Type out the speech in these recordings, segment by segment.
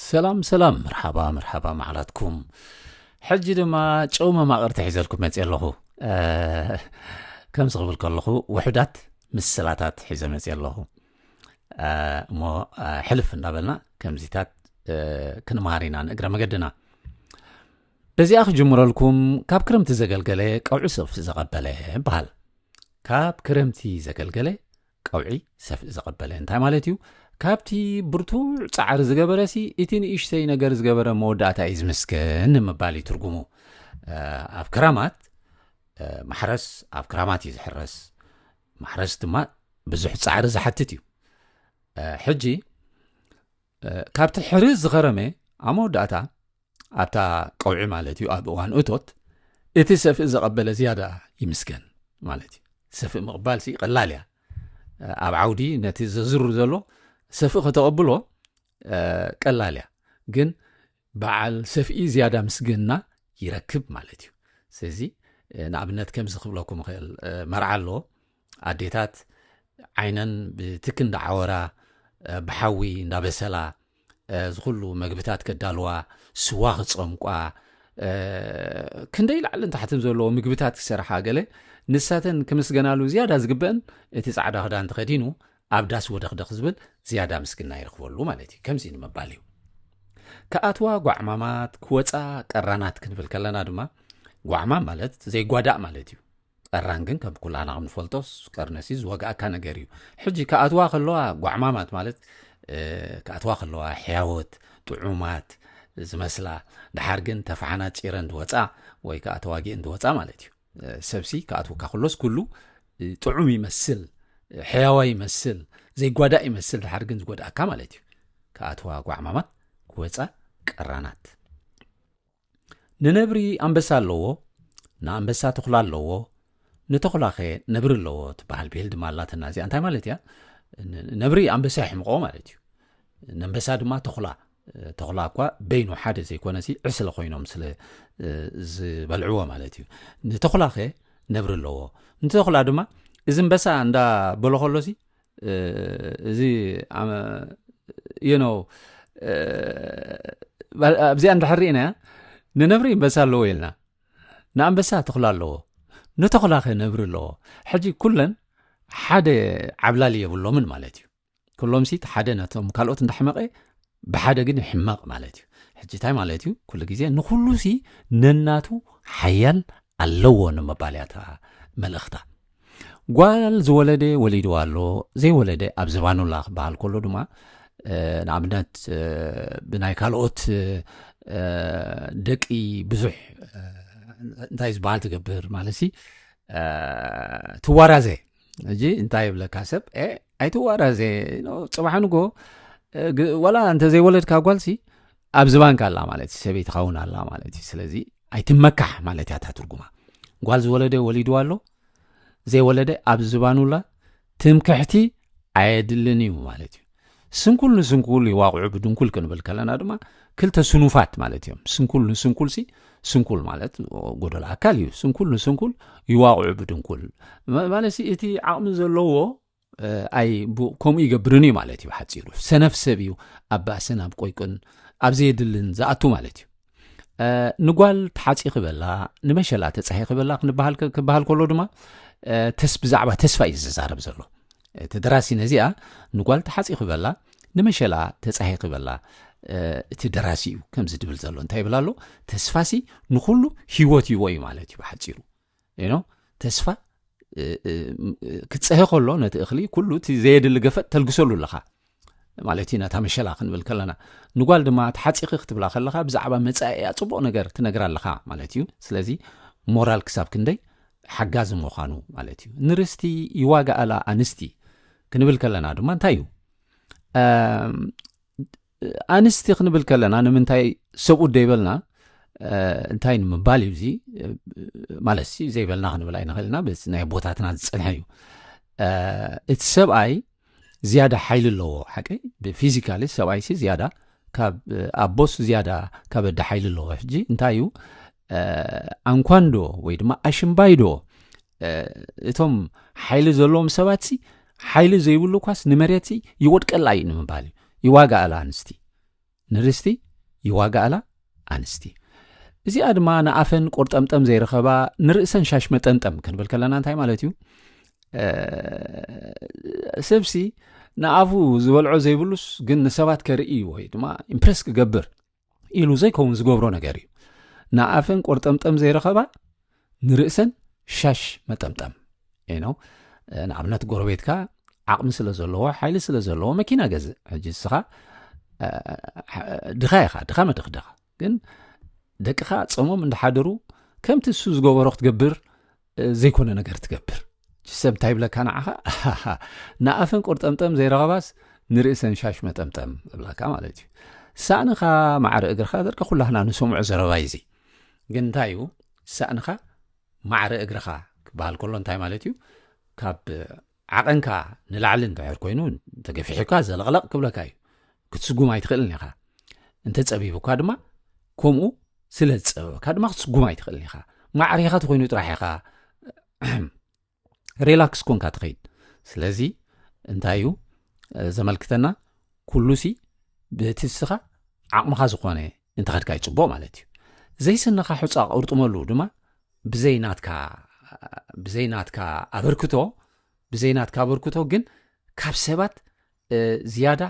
ሰላም ሰላም መርሓባ መርሓባ መዓላትኩም ሕጂ ድማ ጨው መማቕርቲ ሒዘልኩም መፅእ ኣለኹ ከምዚ ክብል ከለኹ ውሑዳት ምስላታት ሒዘ መፅእ ኣለኹ እሞ ሕልፍ እንዳበልና ከምዚታት ክንመሃር ኢና ንእግረ መገድና በዚኣ ክጅምረልኩም ካብ ክረምቲ ዘገልገለ ቀውዒ ሰልፊ ዘቐበለ በሃል ካብ ክረምቲ ዘገልገለ ቀውዒ ሰፍኢ ዘቐበለ እንታይ ማለት እዩ? ካብቲ ብርቱዕ ጻዕሪ ዝገበረሲ እቲ ንእሽተይ ነገር ዝገበረ መወዳእታ እዩ ዝምስገን ንምባል እዩ ትርጉሙ። ኣብ ክራማት ማሕረስ ኣብ ክራማት እዩ ዝሕረስ፣ ማሕረስ ድማ ብዙሕ ጻዕሪ ዝሓትት እዩ። ሕጂ ካብቲ ሕርስ ዝኸረመ ኣብ መወዳእታ ኣብታ ቀውዒ ማለት እዩ ኣብ እዋን እቶት እቲ ሰፍእ ዘቐበለ ዝያዳ ይምስገን ማለት እዩ ሰፍእ ምቕባል ሲ ቀላል እያ ኣብ ዓውዲ ነቲ ዘዝሩ ዘሎ ሰፍእ ከተቐብሎ ቀላል እያ ግን በዓል ሰፍኢ ዝያዳ ምስግና ይረክብ ማለት እዩ ስለዚ ንኣብነት ከምዚ ክብለኩም ይኽእል መርዓ ኣሎ ኣዴታት ዓይነን ብትክ እንዳዓወራ ብሓዊ እንዳበሰላ ዝኩሉ መግብታት ከዳልዋ ስዋ ክፀምቋ ክንደይ ላዕልን ታሕትን ዘለዎ ምግብታት ክሰርሓ ገለ ንሳተን ክምስገናሉ ዝያዳ ዝግበአን እቲ ፃዕዳ ክዳን ተኸዲኑ ኣብ ዳስ ወደኽደኽ ዝብል ዝያዳ ምስግና ይረኽበሉ ማለት እዩ ከምዚ ንምባል እዩ ክኣትዋ ጓዕማማት ክወፃ ቀራናት ክንብል ከለና ድማ ጓዕማም ማለት ዘይጓዳእ ማለት እዩ ቀራን ግን ከም ኩላና ክንፈልጦ ቀርነሲ ዝወጋእካ ነገር እዩ ሕጂ ክኣትዋ ከለዋ ጓዕማማት ማለት ክኣትዋ ከለዋ ሕያወት ጥዑማት ዝመስላ ድሓር ግን ተፋሓና ፂረ እንድወፃ ወይ ከዓ ተዋጊእ እንድወፃ ማለት እዩ ሰብሲ ክኣትወካ ከሎስ ኩሉ ጥዑም ይመስል ሕያዋ ይመስል ዘይጓዳእ ይመስል ድሓር ግን ዝጎድኣካ ማለት እዩ ክኣትዋ ጓዕማማት ክወፃ ቀራናት ንነብሪ ኣንበሳ ኣለዎ፣ ንኣንበሳ ተኹላ ኣለዎ፣ ንተኹላኸ ነብሪ ኣለዎ ትበሃል ብሄል ድማ ኣላትና እዚኣ እንታይ ማለት እያ ነብሪ ኣንበሳ ይሕምቆ ማለት እዩ ነንበሳ ድማ ተኹላ ተኹላ እኳ በይኑ ሓደ ዘይኮነ ሲ ዕስለ ኮይኖም ስለ ዝበልዕዎ ማለት እዩ ንተኹላኸ ነብሪ ኣለዎ ንተኹላ ድማ እዚ ንበሳ እንዳ በሎ ከሎ ሲ እዚ ኣብዚኣ ንድሕር ኢና እያ ንነብሪ በሳ ኣለዎ ኢልና ንኣንበሳ ተኽላ ኣለዎ ንተኽላ ኸ ነብሪ ኣለዎ ሕጂ ኩለን ሓደ ዓብላሊ የብሎምን ማለት እዩ ኩሎምሲ ሓደ ነቶም ካልኦት እንዳሕመቐ ብሓደ ግን ይሕመቕ ማለት እዩ። ሕጂ እንታይ ማለት እዩ? ኩሉ ግዜ ንኹሉሲ ነናቱ ሓያል ኣለዎ ንምባል እያ እታ መልእኽታ። ጓል ዝወለደ ወሊድዋ ኣሎ፣ ዘይወለደ ኣብ ዝባኑ ኣላ ክበሃል ከሎ ድማ ንኣብነት ብናይ ካልኦት ደቂ ብዙሕ እንታይ ዝበሃል ትገብር ማለት ትዋራዘ እዚ እንታይ ይብለካ ሰብ ኣይትዋራዘ ፅባሕ ንጎ ዋላ እንተዘይወለድካ ጓልሲ ኣብ ዝባንካ ኣላ ማለት እዩ ሰበይቲ ካውን ኣላ ማለት እዩ ስለዚ ኣይትመካሕ ማለት እያ እታ ትርጉማ ጓል ዝወለደ ወሊድዋ ኣሎ ዘይወለደ ኣብ ዝባኑላ ትምክሕቲ ኣየድልን እዩ ማለት እዩ ስንኩል ንስንኩል ይዋቕዑ ብድንኩል ክንብል ከለና ድማ ክልተ ስኑፋት ማለት እዮም ስንኩል ንስንኩልሲ ስንኩል ማለት ጎደሎ ኣካል እዩ ስንኩል ንስንኩል ይዋቕዑ ብድንኩል ማለት እቲ ዓቕሚ ዘለዎ ኣይ ከምኡ ይገብርን እዩ ማለት እዩ ሓፂሩ ሰነፍ ሰብ እዩ ኣብ ባእስን ኣብ ቆይቅን ኣብ ዘየድልን ዝኣቱ ማለት እዩ ንጓል ተሓፂ ክበላ ንመሸላ ተፀሂ ክበላ ክበሃል ከሎ ድማ ብዛዕባ ተስፋ እዩ ዝዛረብ ዘሎ እቲ ደራሲ ነዚኣ ንጓል ተሓጺኺ በላ ንመሸላ ተጻሂኺ በላ እቲ ደራሲ እዩ ከምዚ ድብል ዘሎ እንታይ ይብል ኣሎ ተስፋሲ ንኹሉ ሂወት ይዎ እዩ ማለት እዩ ብሓጺሩ ኖ ተስፋ ክፀሀ ከሎ ነቲ እኽሊ ኩሉ እቲ ዘየድሊ ገፈጥ ተልግሰሉ ኣለኻ ማለት እዩ ነታ መሸላ ክንብል ከለና ንጓል ድማ ተሓፂኺ ክትብላ ከለኻ ብዛዕባ መፃኢያ ፅቡቕ ነገር ትነግራ ኣለኻ ማለት እዩ ስለዚ ሞራል ክሳብ ክንደይ ሓጋዚ ምዃኑ ማለት እዩ ንርስቲ ይዋጋኣላ ኣንስቲ ክንብል ከለና ድማ እንታይ እዩ ኣንስቲ ክንብል ከለና ንምንታይ ሰብኡት ደይበልና እንታይ ንምባል እዩ እዚ ማለት ዘይበልና ክንብል ኣይንኽእልና ናይ ኣቦታትና ዝፀንሐ እዩ እቲ ሰብኣይ ዝያዳ ሓይሊ ኣለዎ ሓቂ ብፊዚካሊ ሰብኣይሲ ዝያዳ ካብ ኣቦስ ዝያዳ ካብ ኣደ ሓይሊ ኣለዎ ሕጂ እንታይ እዩ ኣንኳንዶ ወይ ድማ ኣሽምባይዶ እቶም ሓይሊ ዘለዎም ሰባት ሲ ሓይሊ ዘይብሉ ኳስ ንመሬት ይወድቀላ እዩ ንምባል እዩ ይዋጋኣላ ኣንስቲ ንርስቲ ይዋጋኣላ ኣንስቲ እዚኣ ድማ ንኣፈን ቆርጠምጠም ዘይረኸባ ንርእሰን ሻሽ መጠንጠም ክንብል ከለና እንታይ ማለት እዩ ሰብሲ ንኣፉ ዝበልዖ ዘይብሉስ ግን ንሰባት ከርኢ ወይ ድማ ኢምፕረስ ክገብር ኢሉ ዘይከውን ዝገብሮ ነገር እዩ ንኣፈን ቆርጠምጠም ዘይረኸባ ንርእሰን ሻሽ መጠምጠም ነው ንኣብነት ጎረቤትካ ዓቕሚ ስለ ዘለዎ ሓይሊ ስለ ዘለዎ መኪና ገዝእ ሕጂ ንስኻ ድኻ ኢኻ ድኻ መድኽ ድኻ ግን ደቅኻ ፀሞም እንዳሓደሩ ከምቲ እሱ ዝገበሮ ክትገብር ዘይኮነ ነገር ትገብር ሰብ እንታይ ይብለካ ንዓኻ ንኣፈን ቁርጠምጠም ዘይረኸባስ ንርእሰን ሻሽ መጠምጠም እብላካ ማለት እዩ ሳእንኻ ማዕረ እግርኻ ዘርቀ ኩላህና ንሰምዑ ዘረባ እዩ ግን እንታይ እዩ ሳእንኻ ማዕረ እግርኻ ክበሃል ከሎ እንታይ ማለት እዩ ካብ ዓቐንካ ንላዕሊ እንተሕር ኮይኑ ተገፊሑካ ዘለቕለቕ ክብለካ እዩ ክትስጉም ኣይትኽእልን ኢኻ እንተፀቢቡካ ድማ ከምኡ ስለ ዝፀበበካ ድማ ክትስጉም ኣይትኽእልን ኢኻ ማዕሪኻ ተኮይኑ ጥራሕ ኢኻ ሪላክስ ኮንካ ትኸይድ ስለዚ እንታይ እዩ ዘመልክተና ኩሉሲ ብእቲ ንስኻ ዓቕምኻ ዝኾነ እንተኸድካ እዩ ፅቡቕ ማለት እዩ ዘይስንኻ ሑፃ ቅርጥመሉ ድማ ብዘይ ናትካ ብዘይ ናትካ ኣበርክቶ ብዘይ ናትካ ኣበርክቶ ግን ካብ ሰባት ዝያዳ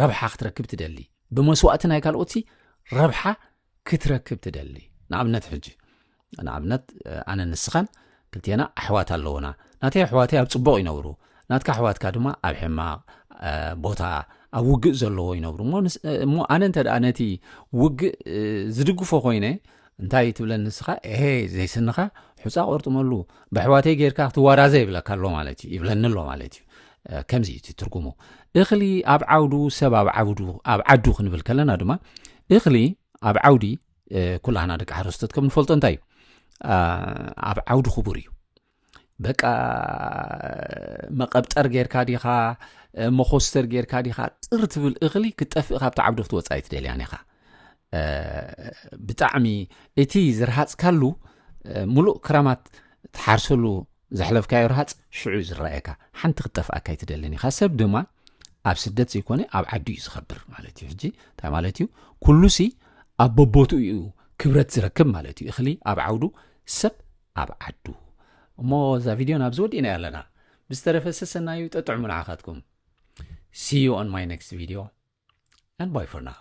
ረብሓ ክትረክብ ትደሊ ብመስዋእቲ ናይ ካልኦትሲ ረብሓ ክትረክብ ትደሊ ንኣብነት ሕጂ ንኣብነት ኣነ ንስኻን ክልቴና ኣሕዋት ኣለውና ናተይ ኣሕዋተይ ኣብ ፅቡቕ ይነብሩ ናትካ ኣሕዋትካ ድማ ኣብ ሕማቕ ቦታ ኣብ ውግእ ዘለዎ ይነብሩ እሞ ኣነ እንተ ደኣ ነቲ ውግእ ዝድግፎ ኮይነ እንታይ ትብለ ንስኻ ኤሄ ዘይስንኻ ሑፃ ቆርጥመሉ ብኣሕዋተይ ጌርካ ክትዋራዘ ይብለካ ኣሎ ማለት እዩ ይብለኒ ኣሎ ማለት እዩ ከምዚ እዩ እቲ ትርጉሙ እኽሊ ኣብ ዓውዱ ሰብ ኣብ ዓውዱ ኣብ ዓዱ ክንብል ከለና ድማ እኽሊ ኣብ ዓውዲ ኩላህና ደቂ ሓረስቶት ከም ንፈልጦ እንታይ እዩ ኣብ ዓውዲ ክቡር እዩ በቃ መቐብጠር ጌርካ ዲኻ መኾስተር ጌርካ ዲኻ ጥር ትብል እኽሊ ክጠፍእ ካብቲ ዓብዶ ክትወፃኢ ትደልያን ኢኻ ብጣዕሚ እቲ ዝረሃፅካሉ ሙሉእ ክራማት ትሓርሰሉ ዘሕለፍካዮ ረሃፅ ሽዑ እዩ ዝረኣየካ ሓንቲ ክጠፍኣካ ኣይትደልን ኢኻ ሰብ ድማ ኣብ ስደት ዘይኮነ ኣብ ዓዱ እዩ ዝኸብር ማለት እዩ ሕጂ እንታይ ማለት እዩ ኩሉሲ ኣብ በቦትኡ እዩ ክብረት ዝረክብ ማለት እዩ እኽሊ ኣብ ዓውዱ ሰብ ኣብ ዓዱ እሞ እዛ ቪድዮ ናብ ዝወዲእና ኣለና ብዝተረፈ ሰሰናዩ ጠጥዕሙ ንዓኻትኩም see you on my next video and bye for now